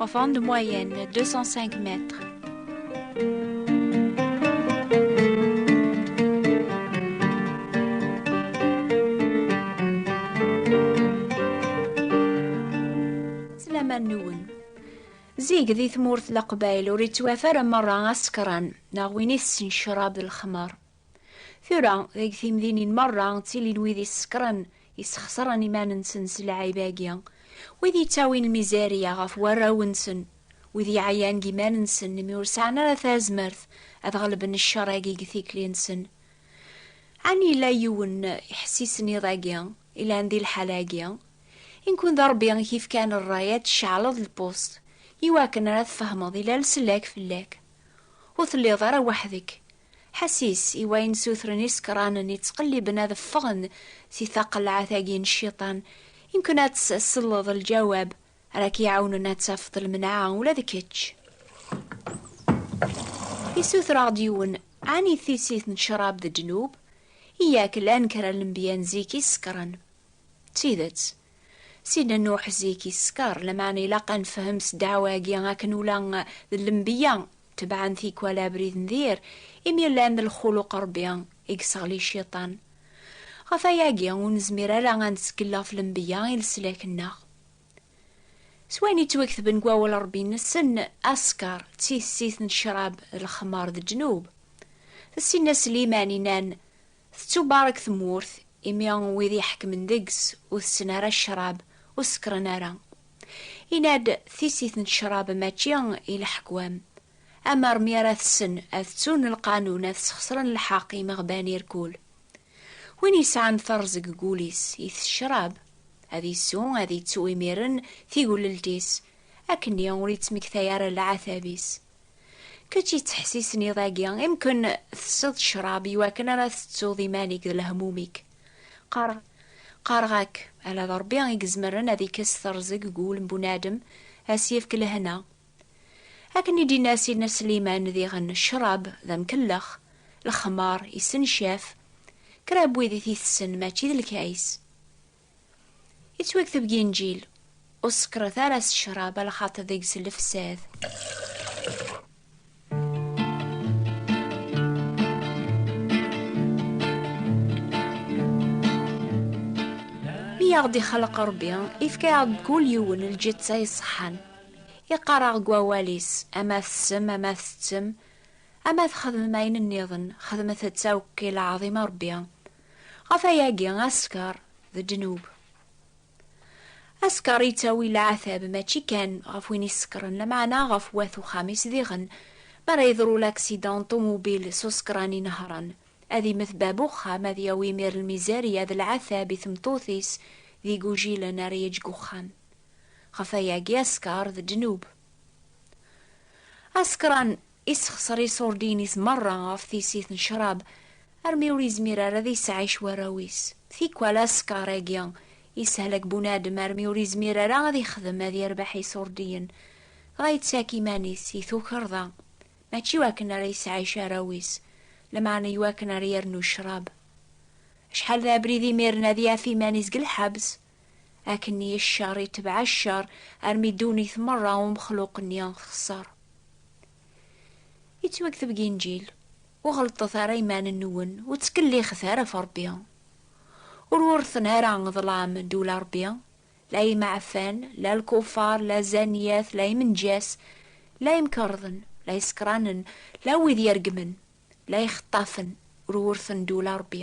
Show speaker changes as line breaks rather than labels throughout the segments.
Enfant de moyenne, 205 mètres. Zig di tmurt leqbayl ur ittwaf ara merra asekran neɣ win i tessen ccrab d lexmer. Tura, deg timdinin merra ttilin wid isekkṛen, isxeṣren iman-nsen s lɛib-agi, wid yettawin lmizerya ɣef warraw-nsen, wid yeɛyan deg iman-nsen imi ur sɛan ara tazmert ad ɣelben cceṛ-agi deg tikli-nsen. Ɛni yella yiwen iḥessisen iḍ agi, ilan di lḥala-agi? I nekun d Ṛebbi i k-ifkan ṛṛay ad d-tceɛleḍ lpust, iwakken ara tfehmeḍ ilal sellak fell-ak. Ur telliḍ ara weḥd-k, Ḥasis i wayen sutren isekranen yettqelliben ad ffɣen si taqelɛat-agi n cciṭan. Yemken ad tselleḍ lǧawab ara k-iɛawnen ad tafeḍ lmenɛa ula d kečč. Isuter-aɣ-d yiwen, Ɛni tissit n ccrab d ddnub? Yak llan kra n lenbiya n zik i sekren. D tidet. Sidna Nuḥ zik yeskeṛ, lameɛna ilaq ad nefhem s ddeɛwa-agi akken ula d lenbiya tebɛen tikwal abrid n dir, imi llan d lxuluq Ṛebbi i yesseɣli Cciṭan. Ɣef wayagi, ur nezmir ara ad nettkel ɣef lenbiya i leslak-nneɣ. S wayen yettwaktben deg Wawal Ṛebbi nessen askeṛ d tissit n ccṛab d lexmeṛ d ddnub. Tessin-as Sliman, inan. Tettubarek tmurt, imi wid iḥekmen deg-s ur tetten ara ccrab, ur sekkren ara. Yenna-d, Tissit n ccrab mačči i leḥkwam. Amer mi ara tessen ad tettun lqanun ad sxesren lḥeq imeɣban irkul. Win yesɛan terẓeg deg wul-is, it ccrab. Ad isu, ad ittu imiren tigelelt-is, akkenni ur ittmektay ara leɛtab-is. Kečč yettḥessisen iḍ-agi, imken tesseḍ ccrab iwakken ara tettuḍ iman-ik d lehmum-ik. Qqareɣ, qqareɣ-ak, ala d Rebbi i izemren ad ikkes terẓeg deg wul n bunadem, ad s-yefk lehna. Akken i d-yenna Sidna Sliman diɣen, ccrab d amkellex, lexmar, issencaf, kra n wid i t-itessen mačči d lkays. Yettwakteb deg Inǧil, Ur sekkret ara s ccrab, a lxaṭi deg-s lefsad. Mi aɣ-d-ixleq Ṛebbi, ifka-aɣ-d kul yiwen lǧetta iṣeḥḥan. Iqqar-aɣ deg Wawal-is, ama tessem, ama tettem, ama txedmem ayen nniḍen, xedmet-tt akk i lɛaḍima Ṛebbi. Ɣef ayagi asker d ddnub. Asker yettawi leɛtab mačči kan ɣef win isekren lameɛna ɣef wat uxxam-is diɣen. Mi ara yeḍru laksidan n ṭumubil s usekṛan inehṛen, ad immet bab uxxam, ad yawi imir n lmizerya d leɛtab i tmeṭṭut-is d igujilen ara yeǧǧ deg uxxam. Ɣef ayagi asker d ddnub. Asekṛan Issexser iṣurdiyen-is merra ɣef tissit n ccrab, armi ur izmir ara ad isɛic warraw-is. Tikwal askeṛ-agi issehlak bunadem armi ur izmir ara ad ixdem ad yerbeḥ iṣurdiyen, dɣa yettak iman-is i tukerḍa, mačči i wakken ara isɛic arraw-is, lameɛna i wakken ara yernu ccrab. Acḥal d abrid imiren ad yaf iman-is deg lḥebs! Akken-nni ccer itebɛ ccer armi ddunit merra umexluq-nni texṣer. Yettwakteb deg Inǧil, Ur ɣellṭet ara iman-nwen, ur ttkellixet ara ɣef Ṛebbi. Ur wurten ara ḍlam ddula n Ṛebbi, la imeɛfan, la lkufar, la zzaniyat, la imenǧas, la imkerḍen, la isekranen, la wid ireggmen, la ixeṭṭafen, ur wurten ddula n Ṛebbi.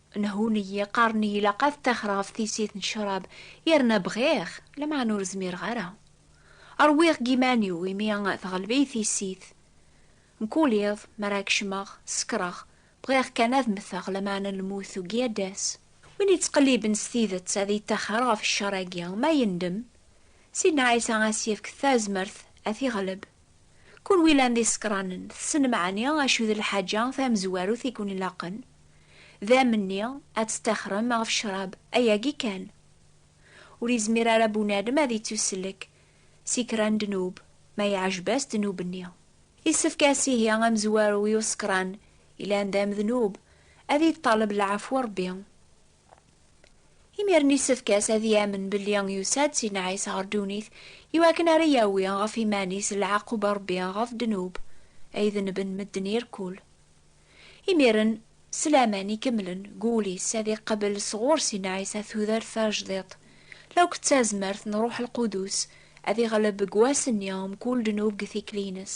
Nhun-iyi, qqaren-iyi ilaq ad ttaxreɣ ɣef tissit n ccrab, yerna bɣiɣ, lameɛna ur zmireɣ ara. Rwiɣ deg yiman-iw imi tɣelleb-iyi tissit. Mkul iḍ, mi ara kecmeɣ, sekkreɣ, bɣiɣ kan ad mmteɣ, lameɛna lmut tugi ad d-tas. Win yettqelliben s tidet ad yettaxer ɣef ccer-agi, ma yendem, Sidna Ɛisa ad as-yefk tazmert ad t-iɣleb. Kunwi llan d isekranen, tessnem ɛni acu d lḥaǧa tamezwarut i ken-ilaqen? D amenni ad tettaxrem ɣef ccrab, ayagi kan. Ur izmir ara bunadem ad ittussellek si kra n ddnub, ma iɛjeb-as ddnub-nni. Issefk ass ihi amezwaru i usekran ilan d amednub ad iṭṭaleb lɛafwa Rebbi. Imiren yessefk-as ad yamen belli yusa-d Sidna Ɛisa ɣer ddunit i wakken ara yawi ɣef iman-is leɛqub n Rebbi ɣef ddnub ay dennben medden irkul. Imiren, s laman ikemlen deg wul-is ad iqabel sɣur Sidna Ɛisa tudert tajdiṭ, la akk d tazmert n Ṛuḥ Lqudus ad iɣleb deg wass-nni mkul ddnub deg tikli-ines.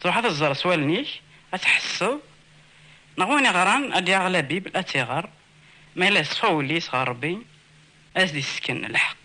Truḥ ad tẓer s wallen-ik, ad tḥesseḍ, neɣ win iɣran ad d-yaɣ la Bible, ad tt-iɣer, ma yella yeṣfa wul-is ɣer Rebbi, ad as-d-yessken lḥeqq.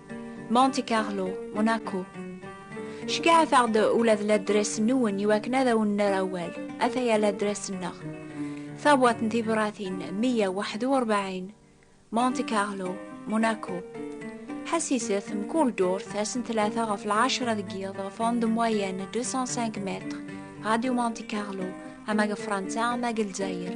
Monte Carlo, Monaco. Cegɛet-aɣ-d ula d ladres-nwen iwakken ad awen-nerr awal. Ataya ladres-nneɣ. Tabwaḍt n tibṛatin 141, Monte Carlo, Monaco. Ḥassiset mkul dduṛt ass-n tlata ɣef lɛecṛa deg yiḍ ɣef onde moyenne 205 mètres, Radio Monte Carlo, ama deg Fṛansa ama deg Lezzayer.